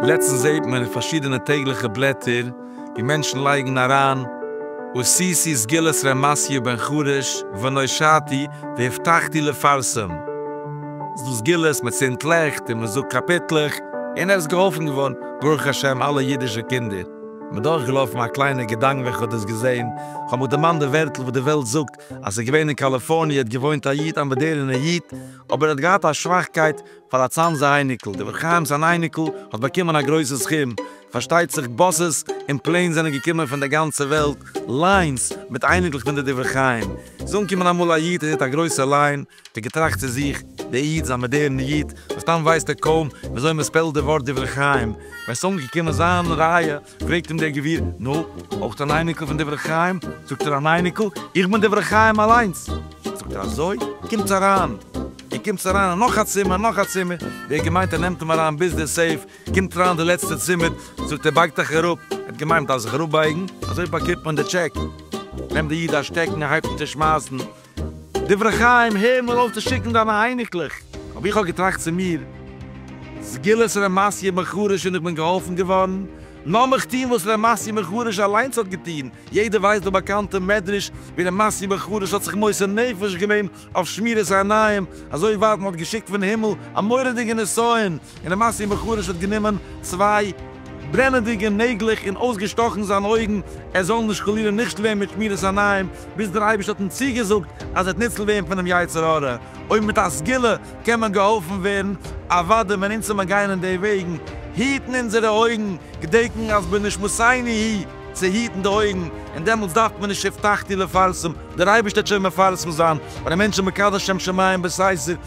לעצטנס זעהט מען אין פארשידענע טעגליכע בלעטער ווי מענטשן לייגן אריין אוסיסי סגולת ר' מעשיה בן חרש ונושעתי והבטחתי לפרסם זו סגולת מען צינדט לעכט און מען זאגט קאפיטלעך און עס איז געהאלפן געווארן ברוך השם אלע אידישע קינדער. מיר דורכגעלאפן א קליינע געדאנק ווען כ'האב דאס געזען, כ'האב מיך דערמאנט די ווערטל וואס די וועלט זאגט אז ס'איז געווען אין קאליפארניע האט געוואוינט א איד א מאדערענע איד אבער ער האט געהאט א שוואכקייט פאר א צאנזע אייניקל דער חיים'ס אן אייניקל האט באקומען א גרויסע סכום פארשטייט זיך באסעס און פלעינס זענען געקומען פון דער גאנצע וועלט ליינס מיט אייניקלעך פון די דברי חיים איז אנגעקומען אמאל א איד און ער האט א גרויסע ליין די געטראכט צו זיך, דער איד איז א מאדערנע איד, מסתם ווייסט ער קוים וויאזוי מען ספעלט די ווארט דברי חיים, ווען ס'איז אנגעקומען זיין רייע, פרעגט אים דער גביר, נו, אויך אן אייניקל פון דברי חיים? זאגט ער, אן אייניקל? איך בין דברי חיים אליינס! זאגט ער, אזוי? קומטס אריין! און קומטס אריין אין נאך א צימער, נאך א צימער, ווי ער האט געמיינט ער נעמט אים אריין ביז דער סעיף, קומט אריין די לעצטע צימער, זאגט ער, בייגט אייך אראפ, ער האט געמיינט מ'דארף זיך אראפבייגן, אזוי באקומט מען די טשעק, נעמט דער איד א שטעקן און הייבט אן צושמייסן, דברי חיים, הער מיר אויף צו שיקן דיינע אייניקלעך. אבער איך האב געטראכט צו מיר, סגולת ר' מעשיה מחריש און איך בין געהאלפן געווארן, לאמיך טון וואס ר' מעשיה מחריש אליינס האט געטון, יעדער ווייסט דעם באקאנטען מדרש ווי ר' מעשיה מחריש האט זיך מוסר נפש געווען אויף שמירת העיניים, אזוי ווייט מען האט געשיקט פון הימל א מורא'דיגע נסיון און למעשה איר בחור'יש האט גענומען צוויי ברענעדיגע נעגלעך און אויסגעשטאכן זיינע אויגן ער זאל נישט חלילה נישט ווערן מיט שמירת עיניים, ביז דער אייבערשטער האט אים צוגעזאגט אז ער וועט ניצל ווערן פונעם יצר הרע, אויב מיט א סגולה קען מען געהאלפן ווערן, אוודאי ווען אונז וועלן גיין אין די וועגן, היטן אונזערע אויגן, געדענקן אז בנשמותינו היא, צו היטן די אויגן, און דעמאלטס דארף מען נישט הבטחתי לפרסם, דער אייבערשטער וועט שוין מפרסם זיין, ווען א מענטש איז מקדש שם שמים בסתר,